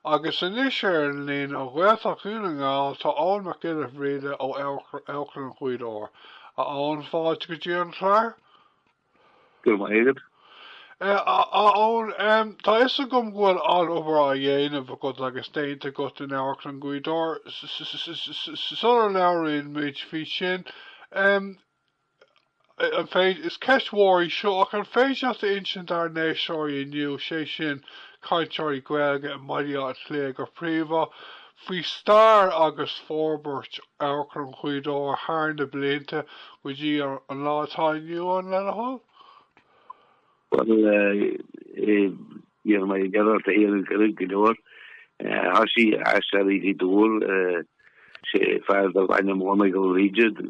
Agus anois ar an líne ó Ghaeltacht Dhún na nGall tá Eoin Mac Giolla Bhríde ó Amharclann Ghaoth Dobhair. A Eoin, fáilte go dtí an clár. Go raibh maith agat. A Eoin, tá fhios agam go bhfuil an-obair á dhéanamh agat agus déanta agat in Amharclann Ghaoth Dobhair sular labhraíonn muid faoi sin. Is ceist mhór í seo, ach an féidir leat a insint dár n-éisteoirí inniu, sé sin, cainteoirí Gaeilge i mBaile Átha Cliath go príomha, faoi stair agus forbairt Amharclann Ghaoth Dobhair thar na blianta go dtí an lá atá inniu ann le do thoil? Bhuel, níor mhaith liom a bheith ag caint go leor. Thosaigh Aisteoirí Ghaoth Dobhair, sé fear darbh ainm Dónal Ó Riada,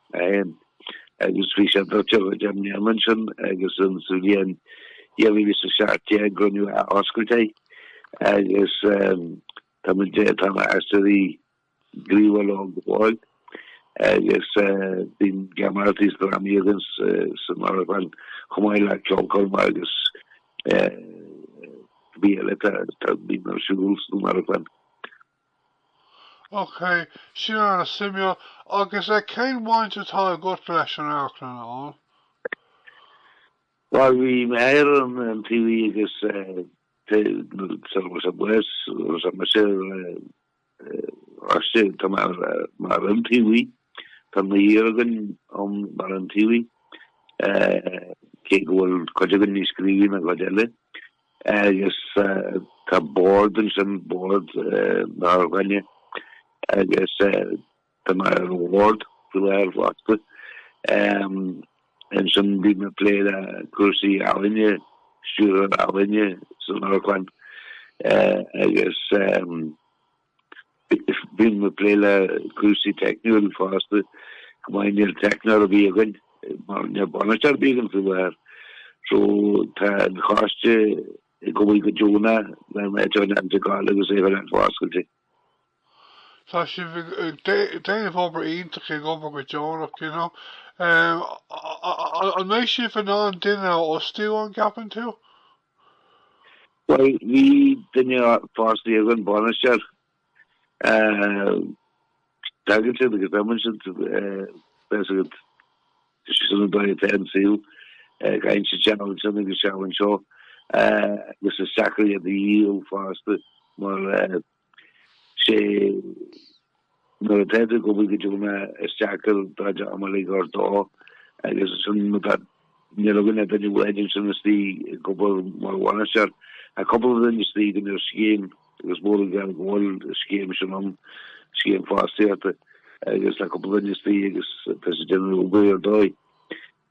féin. Agus bhí sé doirteadh go deimhin an bhliain sin agus in sa bhliain 2017 go ndearnadh athoscailt air agus tá muid ag tá na Aisteoirí gníomhach ag gabháil agus bíonn geamaireachtaí is drámaí againn san amharclann chomh maith le ceolchoirmeacha agus rudaí eile atá ar siúl san amharclann. Ok, sin ana suimiúil. Agus cén bhaint atá agat leis an amharclann a Eoin? Bhuel, bhí mé ar an iontaobhaí agus sula raibh sé buíochas, raibh mé siar istigh, tá mé mar iontaobhaí, tá naonúr againn ann mar iontaobhaithe, cé go bhfuil cuid againn níos gníomhaí ná cuid eile. agus tá bord ansin, bord na hamharclainne, agus tá mé ar an bhord faoi láthair fosta. Ansin bíonn mé ag plé le cúrsaí ealaíne, stiúrthóir ealaíne san amharclann agus. Bím ag plé le cúrsaí teicniúil fosta, go háithrid, níl teicneoir ar bith againn, mar níl bainisteoir ar bith againn faoi láthair, so tá an coiste ag obair go deonach le léi a choinneáil ag gabháil agus í a choinneáil foscailte. Tá sibh ag déanamh obair iontach, ag obair go deonach, you know. An mbeidh sibh in ann duine a fhostú, an gceapann tú? Bhuel, bhí duine fostaithe againn bainisteoir. Tagann siad agus imíonn siad tá fhios agat sin an dóigh atá an saol, gabhann siad seal ansin agus seal anseo agus is deacair iad a dhíol fosta mar sin é nuair a d'fhéadfadh go bhfuil go deo mé isteach ar Daid am uilig ar dóigh agus ansin níl againn duine ar bith ansin istigh ag obair mar bhainisteoir ach cupla duine istigh ar scéim agus mór an gar go bhfuil scéim sin ann, scéim fostaíochta agus tá cupla duine istigh agus tá siad ag déanamh obair ar dóigh.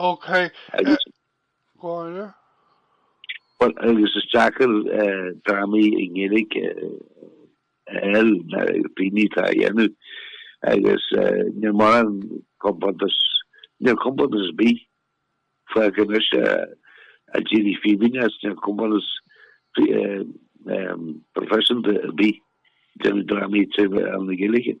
Ok, go háirithe. Bhuel, agus is deacair drámaí i nGaeilge a fháil, mar níl daoine atá á dhéanamh, agus níl mórán compántas, níl compántas ar bith fágtha anois, ó d'éirigh Fíbín as, níl compántas professional ar bith ag déanamh drámaí Gaeilge.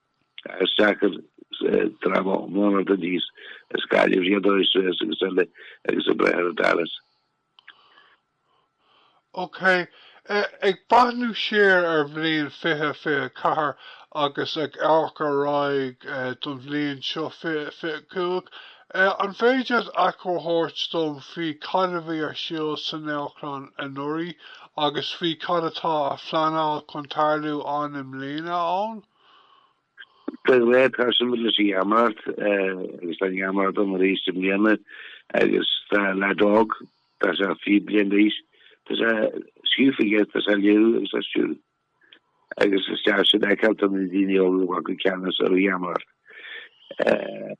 is deacair dráma aonair nó dís is caithfidh iad dul suas agus eile agus a breith ar an Dallas. OK. Ag breathnú siar ar bhliain 2024 agus ag amharc ar aghaidh don bhliain seo 2025, An féidir achoimre a thabhairt dom faoi cad a bhí ar siúl san amharclann anuraidh agus faoi cad atá á phleanáil chun tarlú ann i mbliana, Eoin? Beidh muid ag dul ar aghaidh leis an gheamaireacht agus tá an gheamaireacht ann arís i mbliana agus tá leaid óg, tá sé fiche bliain d'aois, tá sé scríofa aige, tá sé á léiriú agus á stiúradh. Agus is deas sin a fheiceáil, tá na daoine óga ag glacadh ceannas ar an gheamaireacht.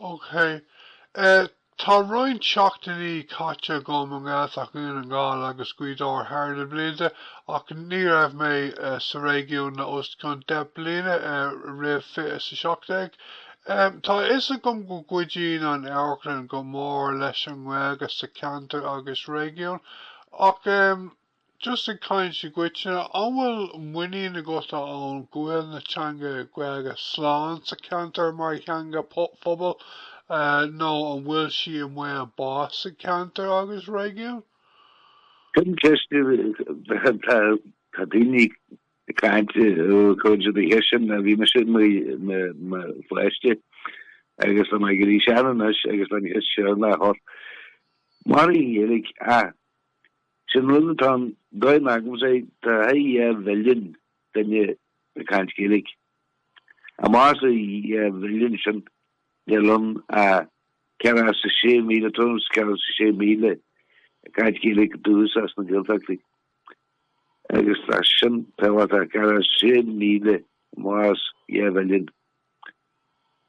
OK. Tá roinnt seachtainí caite agam i nGaeltacht Dhún na nGall agus Gaoth Dobhair thar na blianta ach ní raibh mé sa réigiún le os cionn deich bliana roimh fiche is a seacht déag. Tá a fhios agam go gcuidíonn an amharclann go mór leis an nGaeilge sa cheantar agus réigiún ach Just ag caint i gcoitinne, an bhfuil muinín agat ann go bhfuil an teanga Gaeilge slán sa cheantar mar theanga phobail nó an bhfuil sí i mbaol bás sa cheantar agus réigiún? Sin ceist atá daoine ag caint go cionn fada ó shin ó bhí mise i mo pháiste agus tá mé ag éirí sean anois agus tá an cheist seo ag dul thart. An mairfidh an Ghaeilge ach Sin an rud, tá an dóigh a n-amharcaimse air, tá thart ar dhá mhilliún duine ag caint Gaeilge. I measc na dhá mhilliún sin, níl ann ach ceathracha sé míle, tuairim is ceathracha sé míle, ag caint Gaeilge ó dhúchas as na Gaeltachtaí. Agus tá sin tábhachtach, ceathracha sé míle i measc dhá mhilliún.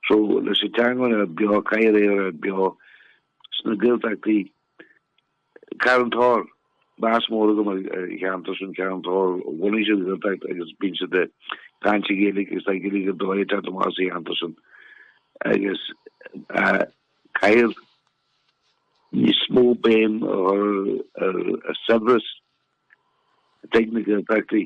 So, leis an teanga a bheith beo, caithfidh sí a bheith beo sna Gaeltachtaí, Carn Tóchair, meas mór agam ar an cheantar sin, Carn Tóchair, bhunaigh siad Gaeltacht agus bíonn siad ag caint i nGaeilge agus tá Gaeilge ar dóigh ag teacht amach as an cheantar sin agus caithfear níos mó béim a chur ar saibhreas teanga na Gaeltachtaí.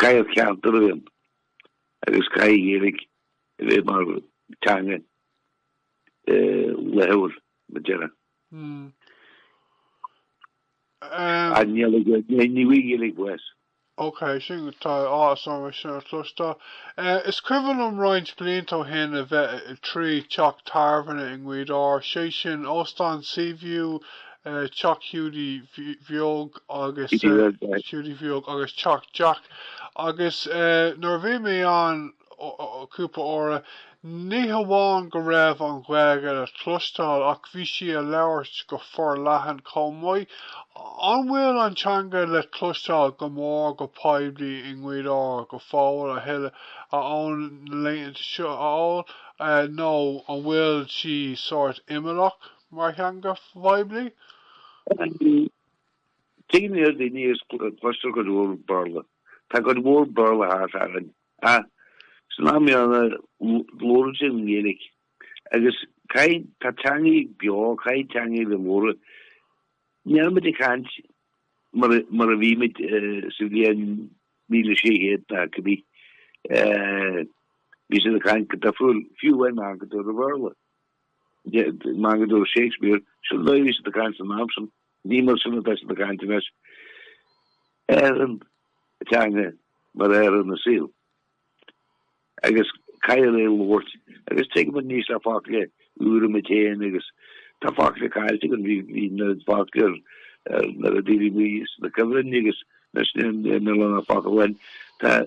Caithfidh an ceart dul i bhfeidhm agus caithfidh Gaeilge a bheith mar teanga laethúil le deireadh. Ach níl a fhios agam, ní bhfuil Gaeilge fós. Ok, sin tá áthas orm é sin a chloisteáil. Is cuimhin liom roinnt blianta ó shin a bheith trí teach tábhairne i nGaoth Dobhair, sé sin Óstán Seaview, Teach Hiúdaí Bheag agus Hiúdaí Bheag agus Teach Jack agus nuair a bhí mé ann cúpla uaire, ní hamháin go raibh an Ghaeilge le cloisteáil ach bhí sí á labhairt go forleathan chomh maith. An bhfuil an teanga le cloisteáil go mór go poiblí i nGaoth Dobhair go fóill a thuilleadh, a Eoin, na laethanta seo, a Eoin, nó an bhfuil sí sórt imeallach? mar theanga phoiblí? Trí mhíle daoine is cloistear cuid mhór Béarla. Tá cuid mhór Béarla thart againn. Ach san am chéanna labhrann siad an Ghaeilge. Agus caithfidh, tá teangaí beo, caithfidh teangaí a bheith labhartha. Nílimid ag caint mar a bhí muid sa bhliain míle sé chéad ná cad é. Bhí siad ag caint go difriúil, fiú amháin go dtí an Bhéarla. Mar go dúirt Shakespeare, sin dóigh a bhí siad ag caint san am sin, ní mar sin atá siad ag caint anois, athraíonn teanga mar athraíonn an saol. Agus caithfear é a labhairt. Agus tuigim anois tá focla úra mic Shéain agus tá focla caillte againn, bhí an oiread focla ar na Daoine Buí sna cuimhní agus anois níl an oiread focla againn. Tá.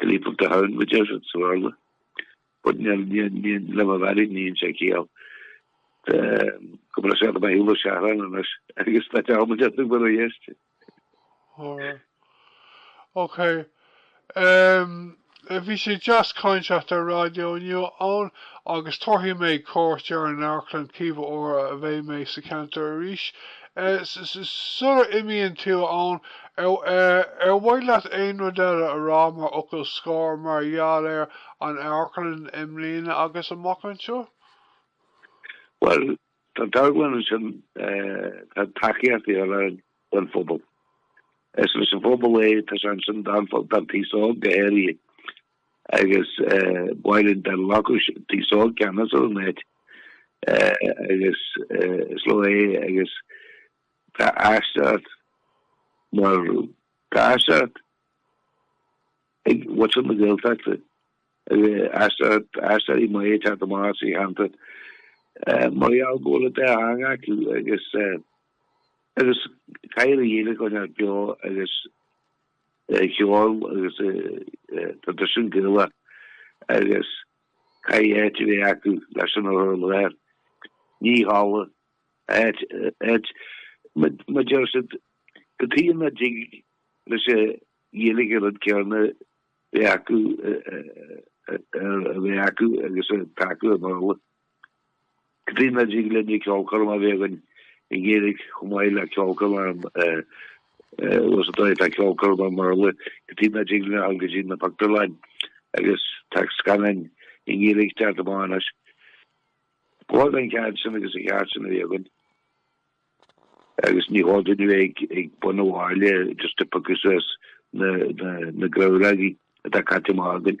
The Leap of the Hound, go deimhin, sa Bhéarla. But níl, níl, níl, Limavady, níl sé ciall. Tá, cuma le saol na beithíola ar seachrán anois, agus tá dearmad orthu go raibh a fhios. Alright. Ok. Umm, bhí sé deas caint leat ar raidió inniu, a Eoin, agus tabharfaidh mé cuairt ar an amharclann cibé uair a bheidh mé sa cheantar arís Sula n-imíonn tú, a Eoin, ar mhaith leat aon rud eile a rá mar fhocal scor mar gheall ar an amharclann i mbliana agus amach anseo? Bhuel, tá an t-amharclann ansin, tá tacaíocht ar fáil ón phobal. Is leis an phobal é, tá sé ansin don phobal, don t-aos óg go háirithe. Agus while in Benelux tí sóg ceannas ón net agus is leo é agus tá aisteoireacht mar tá aisteoireacht ag muintir na Gaeltachta agus aisteoirí maithe ag teacht amach as an cheantar mar gheall go bhfuil a dteanga acu agus agus caithfear an Ghaeilge a choinneáil beo agus cheoil agus traidisiún Gaelach agus caithfidh áit a bheith acu leis sin a chur i láthair. Ní háladh áit áit. Má deir siad cad chuige nach dtig leis an Ghaeilge an rud céanna bheith acu a bheith acu agus atá acu i mBéarla. Caitríona Ní Glinne, ceolchoirm a bhí againn ag éirigh chomh maith le ceolchoirm ar an Ros an Mhíl, tá ceolchoirm ar mar a luaigh Caitríona Ní Glinne thall go dtí na pictiúrlann agus tá scannáin i nGaeilge ag teacht amach anois. Bhog an cead sin agus an cheart sin a bhí againn agus ní há duine bheith ag bun amháile just a picas na na na grabhraí a tá caite amach againn.